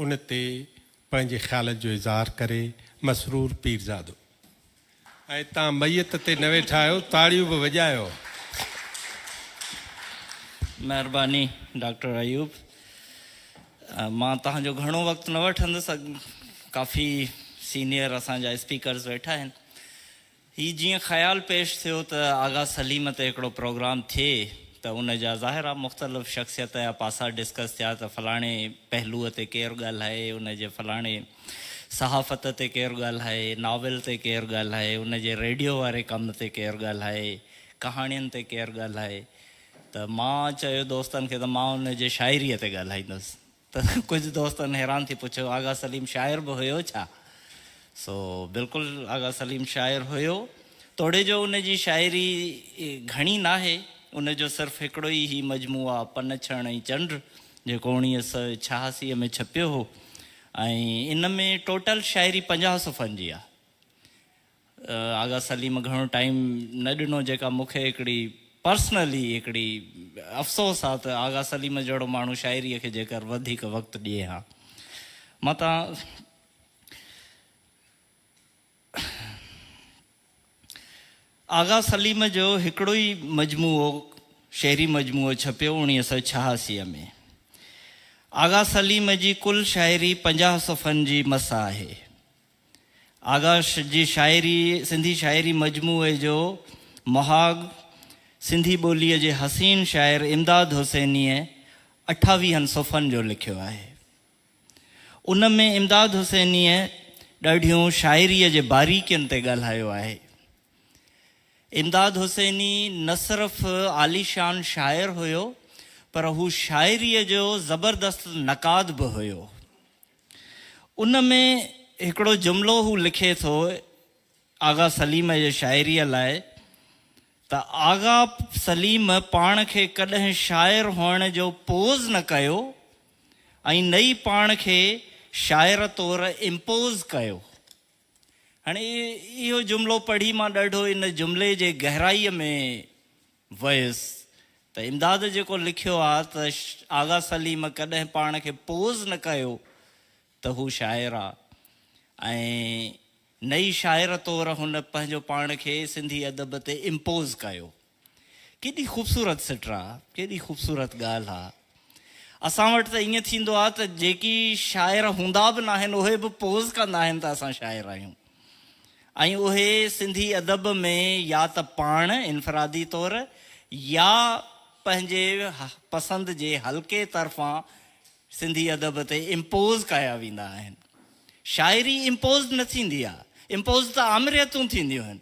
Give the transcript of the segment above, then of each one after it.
ان تي پنهنجي خيالن جو اظهار ڪري مسرور پيرزادو ۽ تان ميت تي نه ويٺا آهيو تاڙيون به وڄايو. مهرباني ڊاڪٽر ايوب. مان توهان جو گهڻو وقت نه وٺندس. ڪافي سينيئر اسان جا اسپيڪرز ويٺا آهن. هي جيئن خيال پيش ٿيو ته آغا سليم تي هڪڙو پروگرام ٿئي ته ان جا ظاهر آ مختلف شخصيت جا پاسا ڊسڪس ٿيا ته فلاڻي پهلوء تي ڪير ڳالهائي، ان جي فلاڻي صحافت تي ڪير ڳالهائي، ناول تي ڪير ڳالهائي، ان جي ريڊيو واري ڪم تي ڪير ڳالهائي، ڪهاڻين تي ڪير ڳالهائي ته مان چيو دوستن کي ته مان ان جي شاعريء تي ڳالهائيندس. ته ڪجهه دوستن حيران ٿي پڇيو آغا سليم شاعر به هيو ڇا؟ سو بلڪل آغا سليم شاعر هيو، توڙي جو ان جي شاعري گهڻي ناهي، ان جو صرف هڪڙو ئي هي مجموعه پن ڇڻ ۽ چنڊ جيڪو اوڻيهه سئو ڇهاسي ۾ ڇپيو هو ۽ ان ۾ ٽوٽل شاعري پنجاهه صفحن جي آ. آغا سليم گهڻو ٽائيم نه ڏنو جيڪا مون کي هڪڙي پرسنلي هڪڙي افسوس آ ته آغا سليم جهڙو ماڻهو شاعري کي جيڪر وڌيڪ وقت ڏئي ها متان آغا سليم جو هڪڙو ئي مجموعو شعري مجموعو ڇپيو اوڻيهه سؤ ڇهاسي ۾ آغا سليم جي ڪل شاعري پنجاهه صفحن جي مس آهي آغاش جي شاعري سنڌي شاعري مجموعي جو مهاڳ سنڌي ٻوليء جي حسين شاعر امداد حسينيء اٺاويهن صفحن جو لکيو آهي. ان ۾ امداد حسينيء ڏاڍيون شاعريء جي باريڪين تي ڳالهايو آهي. امداد حسيني نه صرف عاليشان شاعر هيو پر هو شاعريء جو زبردست نقاد به هيو. ان ۾ هڪڙو جملو هو لکي ٿو آغا سليم جي شاعريء لاء ته آغا سليم پاڻ کي ڪڏهن شاعر هئڻ جو پوز نه ڪيو ۽ نه ئي پاڻ کي شاعر طور امپوز ڪيو. هاڻي اهو جملو پڙهي مان ڏاڍو ان جملي جي گهرائيء ۾ ويس ته امداد جيڪو لکيو آ ته آغا سليم ڪڏهن پاڻ کي پوز نه ڪيو ته هو شاعر آ ۽ نه ئي شاعر طور هن پنهنجو پاڻ کي سنڌي ادب تي امپوز ڪيو. ڪيڏي خوبصورت سٽ آ، ڪيڏي خوبصورت ڳالهه آ. اسان وٽ ته ائين ٿيندو آهي ته جيڪي شاعر هوندا به ناهن اهي به پوز ڪندا آهن ته اسان شاعر آهيون ۽ اهي سنڌي ادب ۾ يا ته پاڻ انفرادي طور يا پنهنجي پسند جي حلقي طرفان سنڌي ادب تي امپوز ڪيا ويندا آهن. شاعري امپوز نه ٿيندي آهي، امپوز ته آمريتون ٿينديون آهن.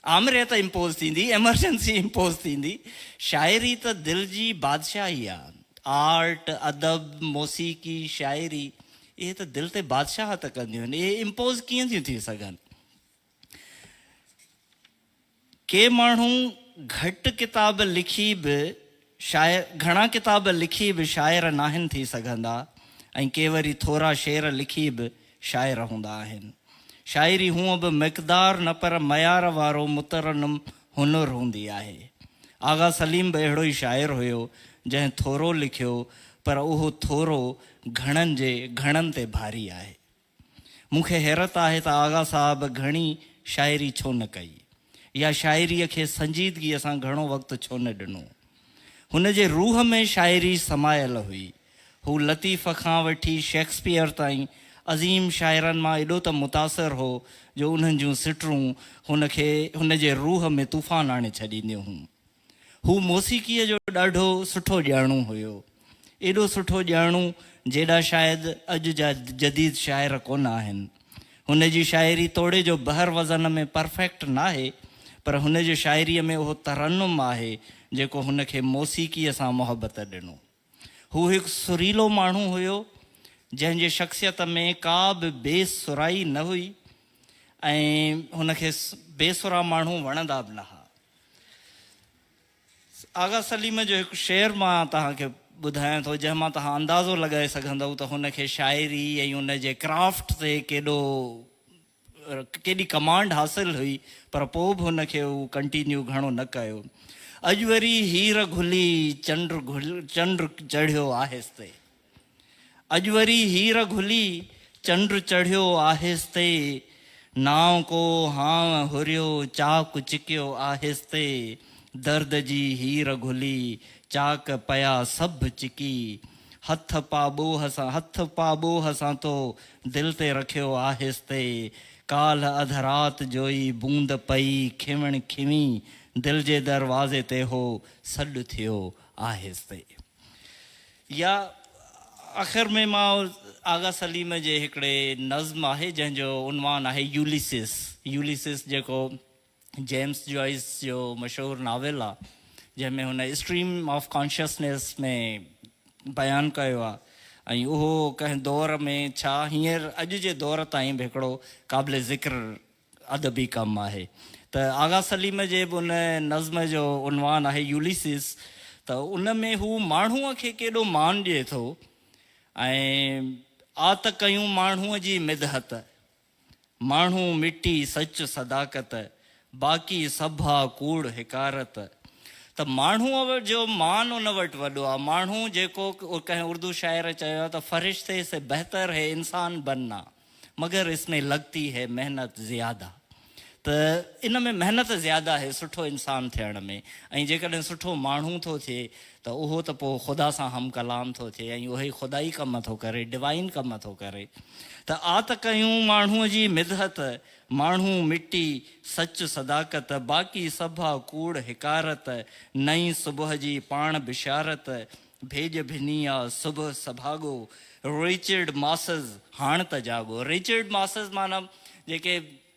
آمريت امپوز ٿيندي، ايمرجنسي امپوز ٿيندي. شاعري ته دل جي بادشاهي آ. آرٽ، ادب، موسيقي، شاعري اهي ته دل تي بادشاهت ڪنديون آهن. اهي امپوز ڪيئن ٿيون ٿي سگهن؟ ڪي ماڻهو گهٽ ڪتاب لکي به شاعر گهڻا ڪتاب لکي به شاعر ناهن ٿي سگهندا ۽ ڪي وري ٿورا شعر لکي به شاعر هوندا آهن. شاعري هونء به مقدار نه پر معيار وارو مترنم هنر هوندي آهي. آغا سليم به اهڙو ئي شاعر هيو جنهن ٿورو لکيو پر اهو ٿورو گهڻن جي گهڻن تي ڀاري آهي. مون کي حيرت آهي ته آغا صاحب گهڻي شاعري ڇو نه ڪئي يا شاعريء کي سنجيدگيء سان گهڻو وقت ڇو نه ڏنو. هن جي روح ۾ شاعري سمايل هئي. هو لطيف کان وٺي شيڪسپيئر تائين عظيم شاعرن مان ايڏو ته متاثر هو جو انهن جون سٽرون هن کي هن جي روح ۾ طوفان آڻي ڇڏينديون هيون. هو موسيقيء جو ڏاڍو سٺو ڄاڻو هيو. ايڏو سٺو ڄاڻو، جيڏا شايد اڄ جا جديد شاعر ڪونه آهن. هن جي شاعري توڙي جو بحر وزن ۾ پرفيڪٽ ناهي، پر هن جي شاعريء ۾ اهو ترنم آهي، جيڪو هن کي موسيقيء سان محبت ڏنو. هو هڪ سريلو ماڻهو هيو، جنهن جي شخصيت ۾ ڪا به بي سرائي نه هئي ۽ هن کي بي سرا ماڻهو وڻندا به نه ها. آغا سليم جو هڪ شعر مان توهان کي ٻڌايان ٿو، جنهن مان توهان اندازو لڳائي سگهندؤ ته هن کي شاعري ۽ ان جي ڪرافٽ تي ڪيڏو ڪيڏي ڪمانڊ حاصل هئي پر پوء به هن کي هو ڪنٽينيو گهڻو نه ڪيو. اڄ وري هير گهلي چنڊ چنڊ چڙهيو آهستي. اڄ وري هير گهلي چنڊ چڙهيو آهستي. نانء ڪو هانء هريو چاڪ چڪيو آهستي. درد جي هير گهلي چاڪ پيا سڀ چڪي. هٿ پا ٻوهه سان هٿ پا ٻوهه سان تو دل تي رکيو آهستي ڪالهه اڌ رات جو ئي بوند پئي کيوڻ کيوين دل جي دروازي تي هو سڏ ٿيو آهستي يا آخر ۾ مان آغا سليم جي هڪڙي نظم آهي جنهن جو عنوان آهي يوليسس يوليسس جيڪو جيمس جوائيس جو مشهور ناول آ جنهن ۾ هن اسٽريم آف ڪانشسنيس ۾ بيان ڪيو آ ۽ اهو ڪنهن دور ۾ ڇا هينئر اڄ جي دور تائين به هڪڙو قابل ذڪر ادبي ڪم آهي ته آغا سليم جي به ان نظم جو عنوان آهي يوليسيس ته ان ۾ هو ماڻهوء کي ڪيڏو مان ڏئي ٿو ۽ آ ته ڪيون ماڻهوء جي مدحت. ماڻهو مٽي سچ صداقت، باقي سڀ آ ڪوڙ حقارت. ته ماڻهوء جو مان ان وٽ وڏو آ. ماڻهو جيڪو ڪنهن اردو شاعر چيو آ ته فرشتي سي بهتر هي انسان بننا مگر اس مين لگتي هي محنت زياده. ته ان ۾ محنت زياده هي سٺو انسان ٿيڻ ۾ ۽ جيڪڏهن سٺو ماڻهو ٿو ٿئي ته اهو ته پوء خدا سان هم ڪلام ٿو ٿئي ۽ اهي خدائي ڪم ٿو ڪري، Divine ڪم ٿو ڪري. ته آء ته ڪيون ماڻهوء جي مدحت، ماڻهو، مٽي، سچ، صداقت، باقي سڀ آ ڪوڙ، حقارت، نئين صبح جي پاڻ بشارت، ڀيڄ ڀني آ صبح سڀاڳو، Richard Mosses، هاڻ ته جاڳو، Richard Mosses معنيٰ جيڪي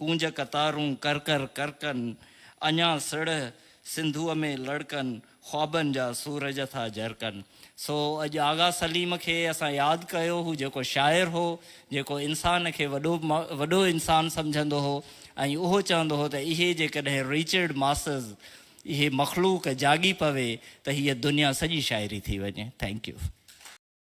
ڪونج قطارون ڪر ڪر ڪرڪن، اڃا سڙهه سنڌوء ۾ لڙڪن، خوابن جا سورج ٿا جرڪن. سو اڄ آغا سليم کي اسان ياد ڪيو، هو جيڪو شاعر هو، جيڪو انسان کي وڏو وڏو انسان سمجهندو هو ۽ اهو چوندو هو ته اهي جيڪڏهن ريچرڊ ماسز اهي مخلوق جاڳي پوي ته هيء دنيا سڄي شاعري ٿي وڃي. Thank U.